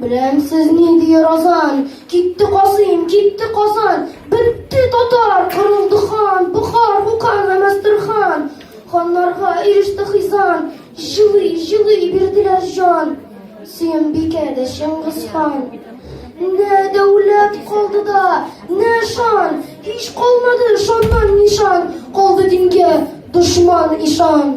Беләмсез ни дияр азан, китте Казыйм, китте Казан, бетте татар, кырылды хан, Бухар, Букан, Әмәстерхан. Ханнарга иреште хизан, җылый, җылый бирделәр җан. Сөембикә дә Чыңгыз хан. Нә дәүләт калды да, нә шан, һич калмады шаннан нишан, калды дингә дошман ишан.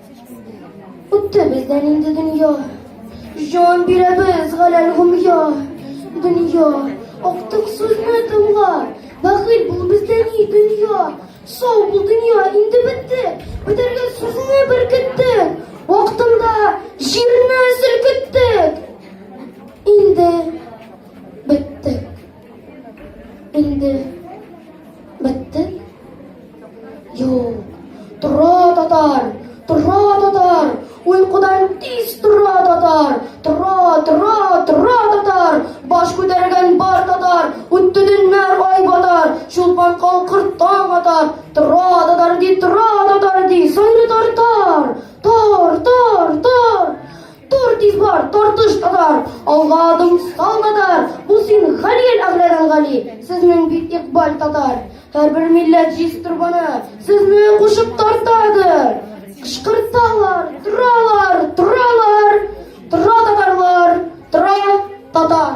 Үтте бездән инде дөнья, җан бирәбез галәл гомья. Дөнья, актык сүзне тыңла, бәхил бул бездә ни дөнья. Сау бул дөнья, инде бетте, бетәргә сүзне беркетте. Вакытында җирне селкеттек. Инде беттек. Инде бетте? Юк. Тора татар, тора татар, уйкудан тиз тора татар, тора, тора, тора татар, баш күтәргән бар татар, үтте дөннәр ай батар, чулпан калкыр таң атар, тора татар ди, тора татар ди, сойры тартар, тар, тар, тар. Тор тиз бар, тартыш татар, алга адым сал татар, бу син Галиел Әгъләдән Гали, сезнең бит икбаль татар. Һәрбер милләт җиз торбаны, сезне кушып тартадыр. Кышкырталар, торалар, торалар, тора татарлар, тора татар.